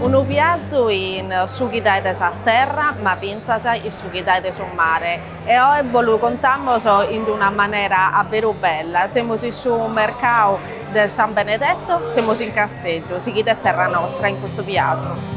Unu viazu in su chi daet sa terra ma fintzas in su chi daet su mare e oe bos lu contamos in d'una manera a beru bella, semus in su mercadu de San Benedetto, semus in Casteddu, sighide Terra Nostra in custu viazu.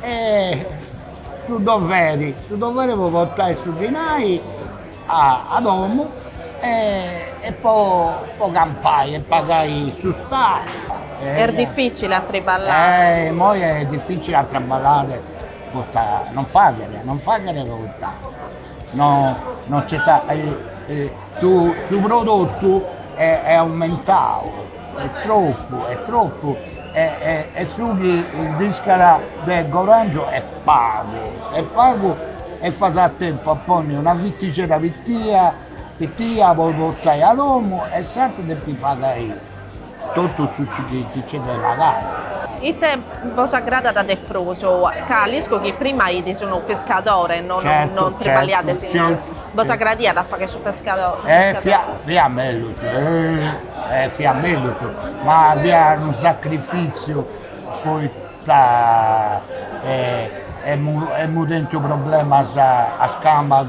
E su doveri, su doveri po portai su dinai a domu e po campai e pagai su stadu. Est dificili a triballare. Immoi est dificili a traballai poita non faghere, non faghere poita no no c'est su su prodottu e est aumentau est troppu est troppu e e e su chi nd'iscada de gorangiu est pagu est pagu e fas a tempu a ponni una fitixedda pitia pitia po portai a domu e s'aturu depi pagai Totu su chi nc'est de pagai. Ite bos agradat de prus? Ca l'isco chi prima fiais unu pescadore, no no triballaiais inoghe. Bos agradiat a fagher su pescadore? E fiat mellus, e fiat mellus, ma fiat unu sacrifìtziu poita emu tentu problemas a is cambas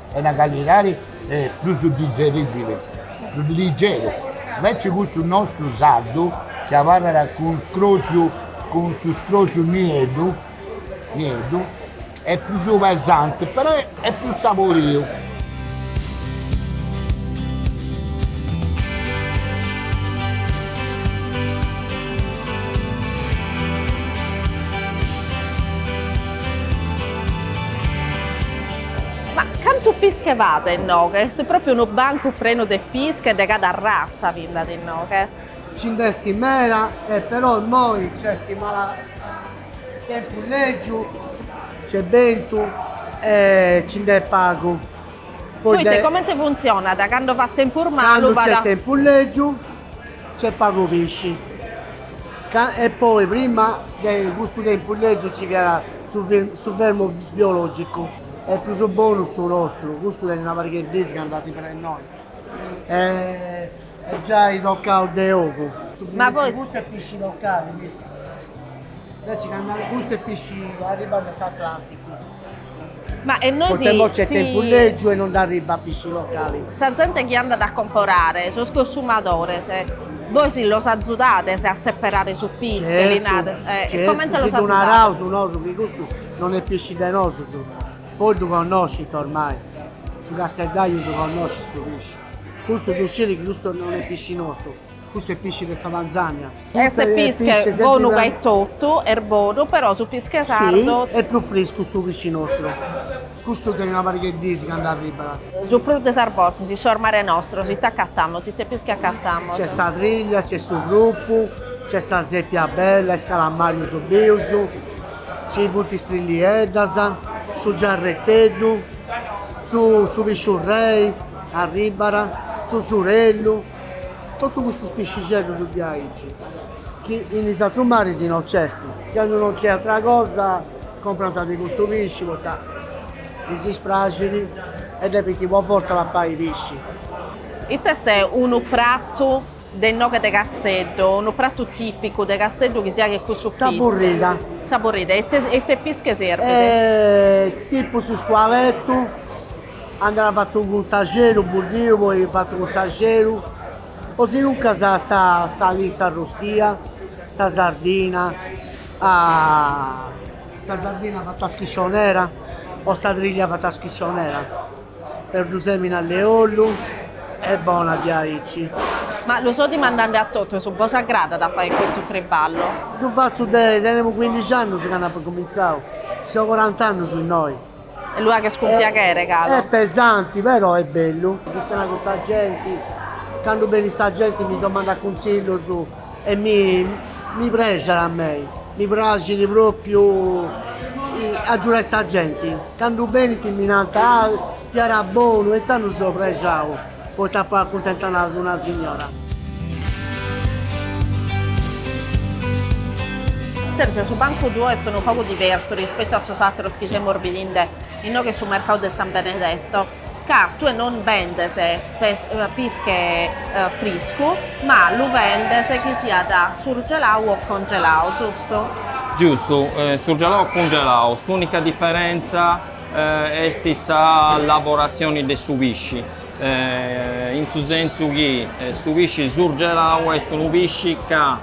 est una calidadi prus digeribile, prus ligeru, invece cussu nostru sardu chi abarrat cun scroxu, cun su scroxu nieddu, nieddu, est prus pesante, però est prus saboriu. Ma cantu pische b'at inoghe? Est pròpiu unu bancu prenu de pische e de cada arratza bi nd'at inoghe. Ci nd'est meda e però immoi nc'est mala tempus lègiu, nc'est bentu e ci nd'est pagu. Poita comente funtzionat, cando fait tempus malu? Cando nc'est tempus lègiu Nc'est pagu pisci, e poi prima de custu tempus legiu nci fiat su su fermu biologicu est prus bonu su nostru, custu tenit una pariga 'e dis ca andat in prena innoi e est giai tocau de ogu. Ma poi. Custu est pisci locali, inveci candu custu est pisci arribat de s'Atlanticu. Ma e nois si. Poita imoi nc'est tempus lègiu e non nd'arribat pisci locali. Sa zente chi andat a comporare, sos consumadores, bois los azudades a seperare su pische, li nades? Certu, certu. E comente los azudades? Si ddu naraus nosu chi custu non est pisci de nosu, poi ddu connoscint ormai, su casteddaju ddu connoscit su pisci, custu ddu scit chi custu non est pisci nostu. Custu est pisci de sa Tanzania. Est pische bonu gai etotu, est bonu, però su pische sardu. Si, est prus friscu su pisci nostru. Custu tenit una pariga de dis candu arribat. Su prus de sas bortas in sos mares nostros ite acatamus, ite pische acatamus? Nc'est sa triglia, nc'est su prupu, nc'est sa sèpia bella, is calamarius bius, nci funt is trillieddas, su giarreteddu, su pisciurrei arribat, su surellu. Totu custus piscixeddus diaici, chi in is atrus maris no nc'est, candu no nc'est atra cosa comprant de custu pisci poita ddis praxit e depint po fortza papai pisci. Ita est unu pratu de inoghe de Casteddu, unu pratu tipicu de Casteddu chi si faghet cun su pische? Sa burrida. Sa burrida e ite pische serbit? Tipu su scualetu Andat fatu cun s'axeru buddiu poi fatu cun s'axeru o si nuncas sa lissa arrustia, sa sardina, sa sardina fata a schiscionera o sa triglia fata a schiscionera perdusemini, allu e ollu, est bona diaici. Ma lu so dimandende a totus, bos agradat a fai custu triballu? Ddu fatzu de, tenemu cuindixi annus candu apu cumintzau, so corant'annus innoi E lu faghes cun piaghere galu? Est pesanti però est bellu. Chistionai cun sa genti, candu benit sa genti mi domandat cuntzillus e mi mi prexat a mei, mi praxit propriu agiudai sa genti, candu benint mi nant ah fiat bonu e intzandus seu prexau Poita apu acuntentau una signora. Sergio, su bancu tuo est unu pagu diversu rispetu a sos ateros chi semus bidende inoghe su mercadu de San Benedetto, ca tue non bendes pische friscu, ma lu bendes chi siat surgelau o congelau, giustu? Giustu, surgelau o cungelau, s'unica diferenza. est sa lavoratzioni de su pisci, in su sentzu chi su pisci surgelau est unu pisci ca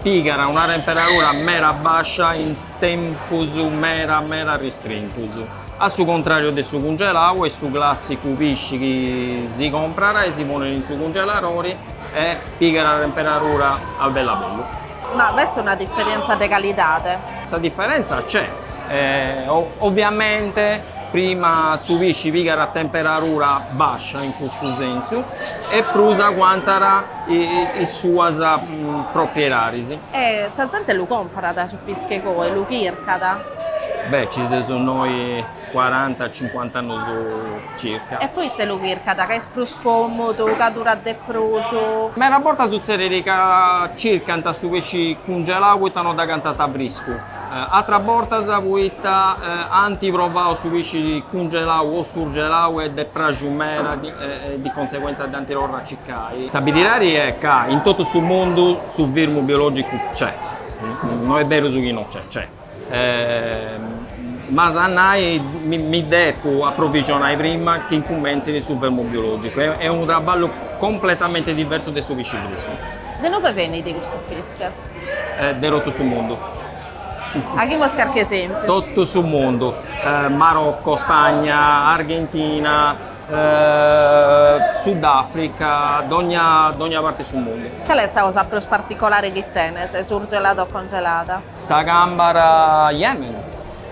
pigat una temperadura meda bascia in tempus meda meda ristrintus, a su contrariu de su cungelau est su classicu pisci chi si comprat e si ponet in su cungeladori e pigat temperadura a bellu a bellu Ma b'est una diferentza de calidade? Sa diferentza nc'est, oviamente prima su pisci pigat a temperadura bascia in cussu sentzu e prus aguantat is suas propriedadis. E sa zente lu comparat su pische goi, lu chircat? Beh, ci seus noi Cuaranta, cincuanta annus circa. E poite lu chircat? Ca est prus còmodu? Ca durat de prus? Meda bortas sutzedit ca circant su pesci cungelau poita no dd'agatant friscu, atras bortas poita ant provau su pesci cungelau o surgelau e ddis est praxiu meda e di conseguentza dd'ant torrau a circai. Sa biridadi est ca in totu su mundu su fermu biològicu nc'est, no est beru su chi no nc'est, nc'est. E m'as a nai, mi depu aprovixonai prima chi incumentzit su fermu biològicu, est unu traballu completamente diversu de su pisci friscu. De inuve benit custu pische? De totu su mundu. Aghimus carchi esèmpiu. Totu su mundu, Marocco, Spagna, Argentina, Sudafrica, dogna dogna parti 'e su mundu. Cale est sa cosa prus particulare chi tenes, surgelada o congelada? Sa càmbara Yemen,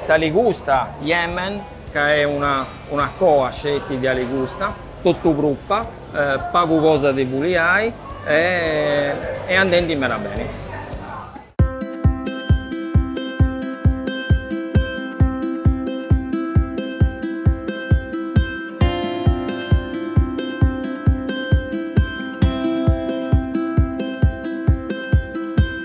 sa ligusta Yemen, ca est una coa sceti de aligusta, totu prupa, pagu cosa de buliai e est andendi meda beni.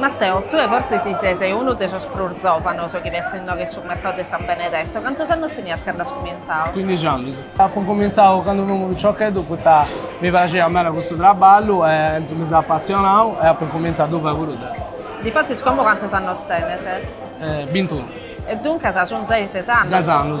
Matteo, tue fortzis ses unu de sos prus zòvanos chi b'est inoghe in su mercadu de San Benedetto, cantos annos tenias cando as cumintzadu? Cuindixi annos. Apo cumintzadu cando fui unu piciocheddu poita mi praxiat meda custu traballu e intzas mi seu apassionadu e apo incumintzadu a ddu fai puru deo. Difatis como cantos annos tenes? Bintunu. E duncas sun ses annos? Ses annos.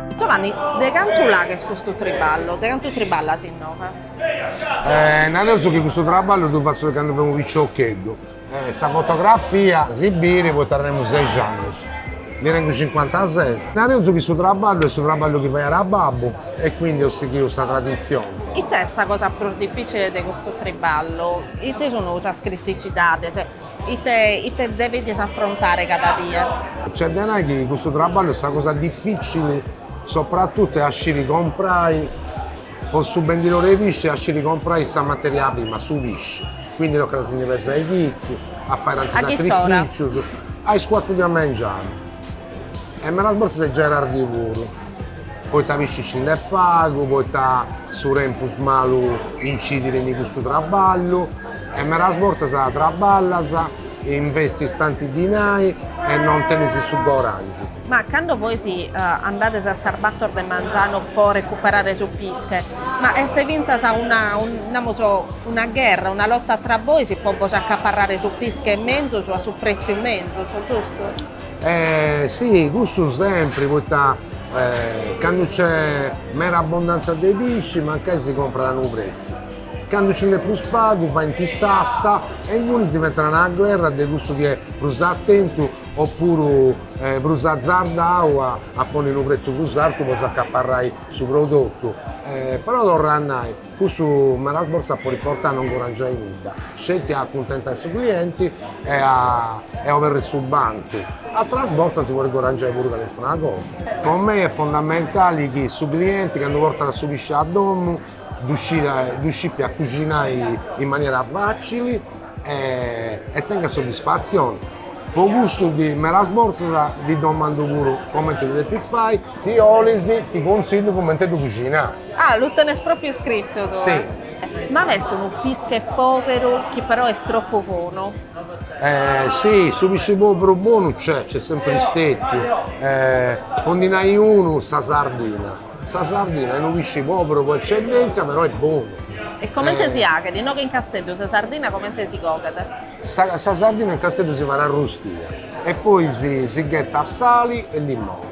Giovanni, de cantu lu aghes custu triballu? De cantu triballas inoghe? Eh, nareus chi custu traballu ddu fatzu de candu femu piciocheddu. Eh, sa fotografia si biri poita tenemu ses annus. Ndi tengu cincuantases. Nareus chi su traballu est su traballu chi faiat babbu e quindi apu sighiu sa traditzioni. Ita est sa cosa prus dificile de custu triballu? Ite sunu sas criticidades? Ite ite devedis afrontare cada die? Nc'est de nai chi custu traballu est sa cosa dificili soprattutto est a sciri comprai po su bendidore 'e pisci est a sciri comprai sa materia prima, su pisci, quindi tocat a si ndi pesai chizzi, a fai tanti sacrificius, a is cuatru de a mengianu E medas bortas est perdi puru, poita pisci nci nd'est pagu, poita su tempus malu incidit in custu traballu e medas bortas traballas e investis tanti dinai e non tenis su guadangiu. Ma cando bois andades a sas bator de manzanu po recuperare su pische, Ma est fintzas una, namus, una gherra, una lota tra bois po bos acaparrare su pische menzus a su pretziu menzus, giustu? Si, custu sempri, poita candu nc'est meda abbondantzia de pisci mancai si comprat a unu pretziu, candu nci nd'est prus pagu faint s'asta e ingunis diventat una gherra de cussu chi est prus atentu oppuru prus azardau a ponni unu pretziu prus artu po s'acaparrai su prodotu, però torra a nai, custu medas bortas podit portai a non guadangiai nudda, sceti a acuntentai su clienti e a e a oberri su bancu, ateras bortas si podit guadangiai puru calincuna cosa. Po mei est fondamentali chi su clienti candu portat su pisci a domu ddu scìpia cusinai in manera fàcili e tenga soddisfatzioni. Po cussu ddi medas bortas ddi domandu puru comenti ddu depit fai. Si 'olis ti contzillu cumenti ddu cusinai. Ah, lu tenes pròpriu scritu tue? Si. Ma est unu pische pòberu chi però est tropu bonu? Si, su pisci pòberu bonu nc'est, nc'est sempri stetiu. Po ndi nai unu, sa sardina. Sa sardina est unu pisci pòberu po eccellèntzia, però est bonu. E comente si faghet? Inoghe in Casteddu sa sardina comente si coghet? Sa sa sardina in Casteddu si fait arrustia e poi si si ghetat sali e limone.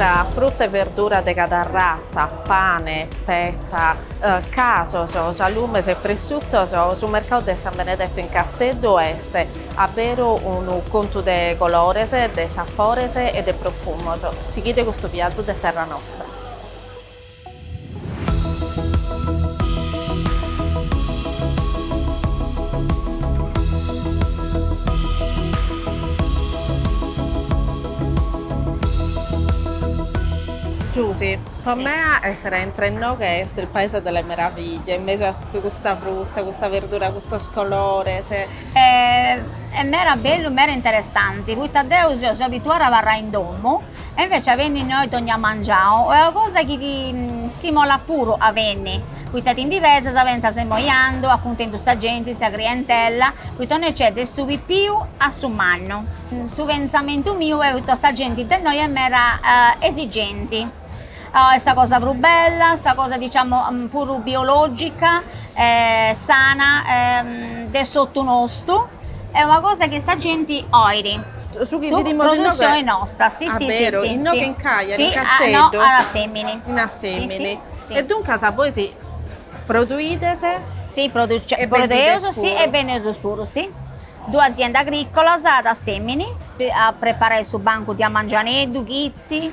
Tra fruta e verdura de cada ratza, pane, petza, casos, salumes e pressuttos, su mercadu de San Benedetto in Casteddu est a beru unu contu de colores, de sapores e de profumos. Sighide custu viazu de Terra Nostra. Giusi, po mene essere a intra inoghe est il paese delle meraviglie, in mesu a custa frutta, custa verdura, custos colores. Est mera bellu, mera interessanti, poita deu seu abituada a abarrai in domu E invece a benni innoi dogna mangianu est una cosa chi ti stimolat puru a benni, poita ti ndi pesas pentzas immoi andu, acuntentu sa genti, sa crientella, poita innoi nc'est de su pipiu a su mannu. Su pentzamentu miu est poita sa genti de innoi est meda esigenti, Est sa cosa prus bella, sa cosa diciamo puru biològica e sana de s'ortu nostu, est una cosa chi sa genti olit. Su chi bidimus inoghe, produtzioni nostra, si, aberu, inoghe in Cagliari, in Casteddu, in Assemini. E duncas bois produides e bendides puru. E bendimus puru, si. Duas aziendas agricolas ad Assemini a preparai su bancu de a mangianeddu, chitzi.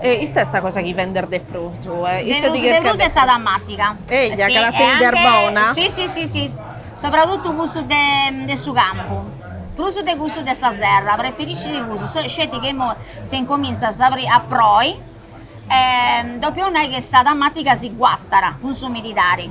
E ite est sa cosa chi vendes de prus tue? Ite ti cherchende? De prus est sa tamàtiga. Eja, ca la tenides bona? Si, si, si, si, sopratutu cussu de su campu, prus de cussu de sa serra, preferiscidi cussu, sceti chi imoi si incomintzat a proi dopu olit nai chi sa tamàtiga si guastat cun s'umididadi,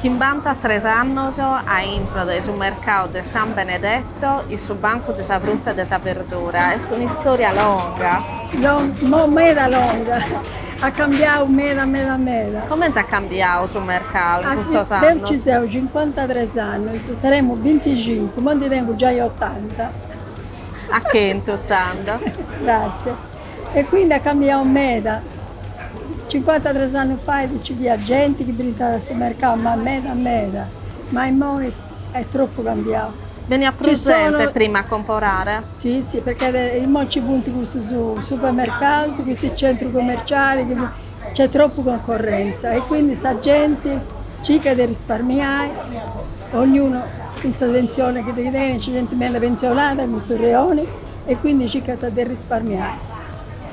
Chimbanta tres annos a intro de su mercau de San Benedetto in su bancu de sa fruta e de sa berdura. Est un'istoria longa. Longa, meda longa. At cambiau meda meda meda. Comente at cambiau su mercau in custos annos? Deu ci seu cincuantatres annos, tenemu binticincu, mo ndi tengu giai otanta. A chentu tando. Gratzie. E quindi at cambiau meda. Cincuanta tres annus fait nci fiat genti chi brintàt a su mercau, ma meda meda. Ma immoi est tropu cambiau. Beniat prus genti prima a comporare? Si, si, perchè immoi nci funt custus supermercaus, custus centrus commercialis chi funt, nc'est tropu concorrentza e quindi sa genti circat de risparmiai Ognunu cun sa pensione chi tenit, nc'est genti meda pensionada in custu reoni e quindi circant de risparmiai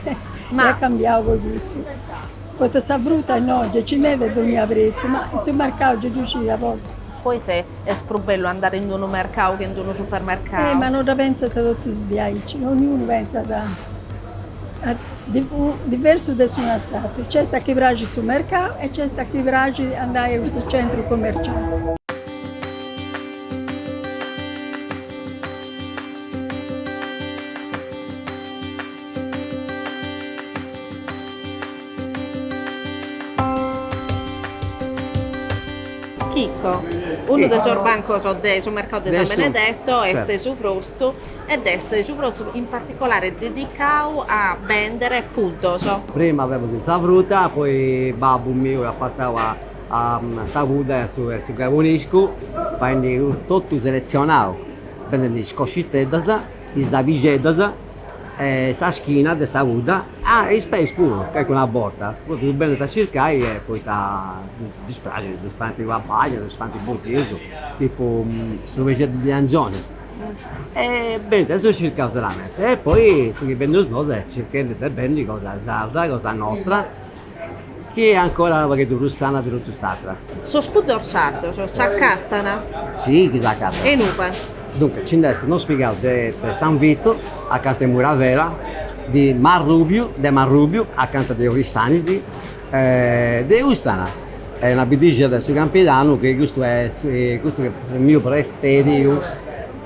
e at cambiau po cussu, poita sa fruta innoi gei nci nd'est de dognia pretziu, ma in su mercau gei ddu scii a bortas. Poita est prus bellu andare in d'unu mercau che in d'unu supermercau? Eh ma no dda pentzant totus diaici, ognunu pentzat Diversu de s'unu a s'atru. Nc'est a chi praxit su mercau e nc'est a chi praxit andai a custus centrus commercialis. Chico, Unu de sos bancos de su mercau de San Benedetto est su bostru e dd'est su brostu in particolare dedicau a bèndere puddos. Prima femus in sa fruta, poi babbu miu at passau a a sa pudda e a su e a su caboniscu, faendi totu seletzionau, bendendi is cosciteddas, is abixeddas e sa schina de sa pudda, ah e is peis puru, calincuna borta, totus ddus benint a circai poita ddis praxint, ddus faint a bagna, ddus faint buddius, tipu su peixeddu de angioni E benint a ddus circai solamente e poi su chi bendeus nosu est circhendi de bendi cosa sarda, cosa nostra, chi est ancora unu pagheddu prus sana de totu s'atra. Sos puddos sardos s'acatant? Si chi s'acatant. E inue? Duncas nci nd'est unu Spiga de San Vitu acanta 'e Muravera, de Marrubiu, de Marrubiu acanta de Oristanis De Ussana, una biddixedda de su campidanu chi custu est custu est su miu preferiu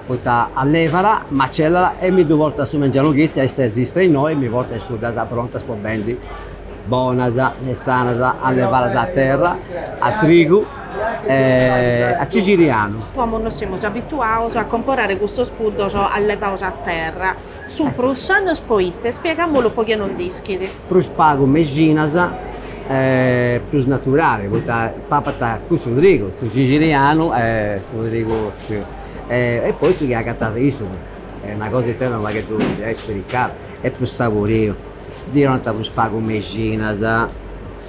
poita allevat, macellat e mi ddu portat su mengianu chitzi, a is ses est innoi mi portat is puddas prontas po bendi bonas e sanas allevadas a terra, a trigu e a cixirianu. Como non semus abituaus a comporare custus puddos allevaus a terra Sun prus sanos poite? Spiegamolu po chie no dd'ischit. Prus pagu mexinas e prus naturali poita papat cussu trigu, su cixirianu e su trigu otziu e poi su chi agatat issu est una cosa ita unu pagheddu est spiricau, est prus saboriu, ddi 'onant prus pagu mexinas,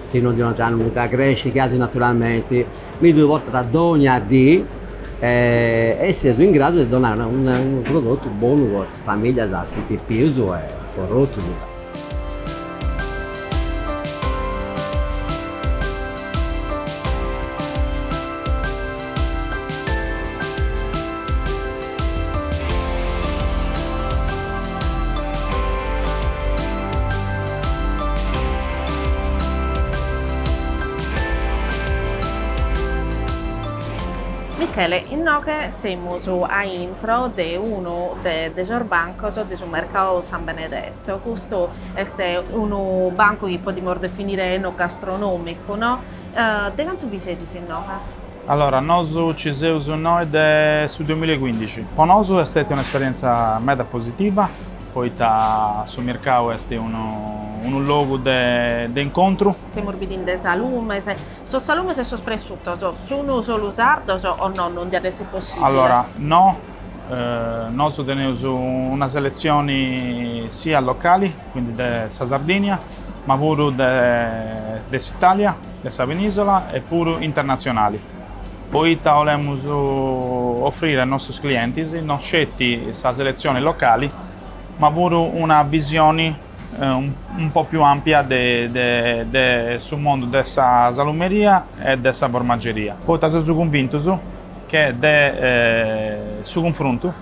si no ddi 'onant nudda crescit casi naturalmenti mi ddu portat dogna dì e ses in gradu de donai unu prodotu bonu po is familias po is pipius e po totus. Michele, inoghe semus a intro de unu de de sos bancos de su mercau San Benedetto, custu est unu bancu chi podimus definire enogastronomicu no? De cantu bi sedis inoghe? Allora, nosu ci seus innoi de su duamilla e cuindixi. Po nosu est stètia un'esperientza meda positiva, poita su mircau est unu unu logu de de incontru. Semus bidinde salumes, sos salumes e sos pressutos sunu solu sardos o no? Non diat essi possibile? Allora, no, nosu teneus una seletzioni siat locali, quindi de sa Sardinia, ma puru de de s'Italia. de sa penìsola e puru internatzionali, poita 'olemus ofrire a nostus clientis no sceti sa seletzioni locali, ma puru una visioni unu po' più ampia de su mondu de sa salumeria e de sa formageria, poita seus cunvintus che de su cunfruntu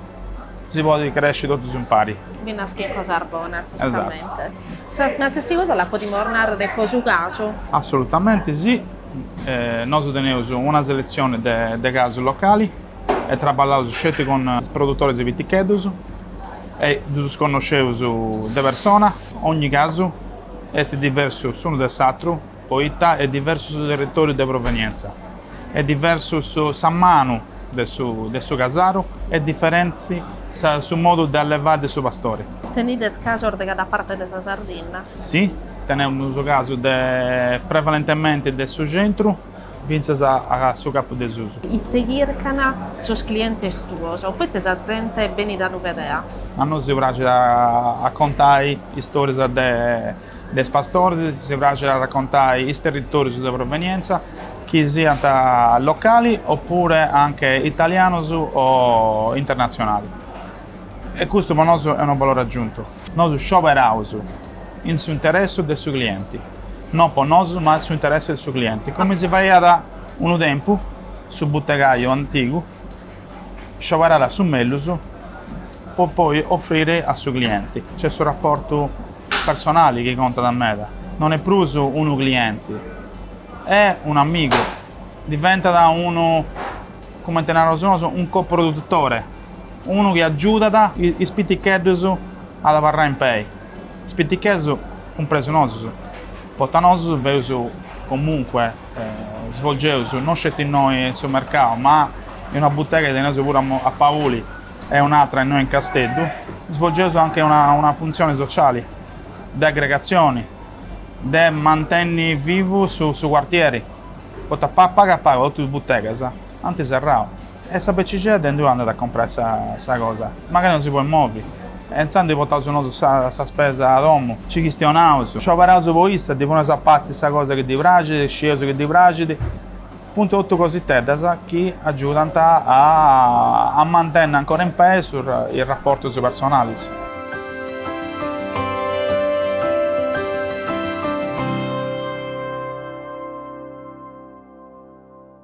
si podit cresci totus impari. Nde naschint cosas bonas, giustamente. Sa stessi cosa la podimus narrer po su casu? Assolutamente sì, nosu teneus una selezione de casu locali e traballaus sceti cun produtoris piticheddus e ddus connosceus de persona, ogni casu est diversu s'unu de s'atru. poita est diversu su territòriu de provenientza, est diversu su sa manu de su de su casaru, est diferenti sa su modu de allevai de su pastori. Tenides casos de cada parte de sa Sardinna? Si, tenemus casu de prevalentementi de su centru fintzas a a su capu de susu. Ite chircan sos clientes tuos? Poita sa zente benit a bi bìdere? A nosu si praxit a contai istòrias de De is pastores si praxit a racontai is territòrius de provenientza, chi siant locali opuru anche italianus o internatzionali. E custu po nosu est unu valori agiuntu. Nosu scioberaus in su interessu de su clienti, no po nosu ma in su interessu de su clienti, comente si faiat unu tempu su butegaiu antigu Scioberàt a su mellus po poi offrire a su clienti. C'est su raportu personali chi contat meda, non est prus unu clienti, est un'amigu, diventat unu, comente naraus nosu, un co-produtore, unu chi agiudat is piticheddus ad abarrai in pei, is piticheddus cumpresu nosus, poita nosus feus comunque. svolgeus non sceti innoi in su mercau ma in una butega chi teneus puru a Pauli e un'atra innoi in Casteddu, svolgeus anche una funtzioni sociali de aggregatzioni, de mantenni vivu su cuartieri, poita pagu a pagu totus is butegas Ant serrau. E sa becixedda inndui andat a comprai sa cosa? Magari non si poit movi. E intzandus portaus nosu sa spesa a domu, ci chistionaus, scioberaus po issa, ddi poneus a parti sa cosa chi ddi praxit, scieus chi ddi praxit. Funt totu cositeddas chi agiudant a mantenni ancora in pei is raportus personalis.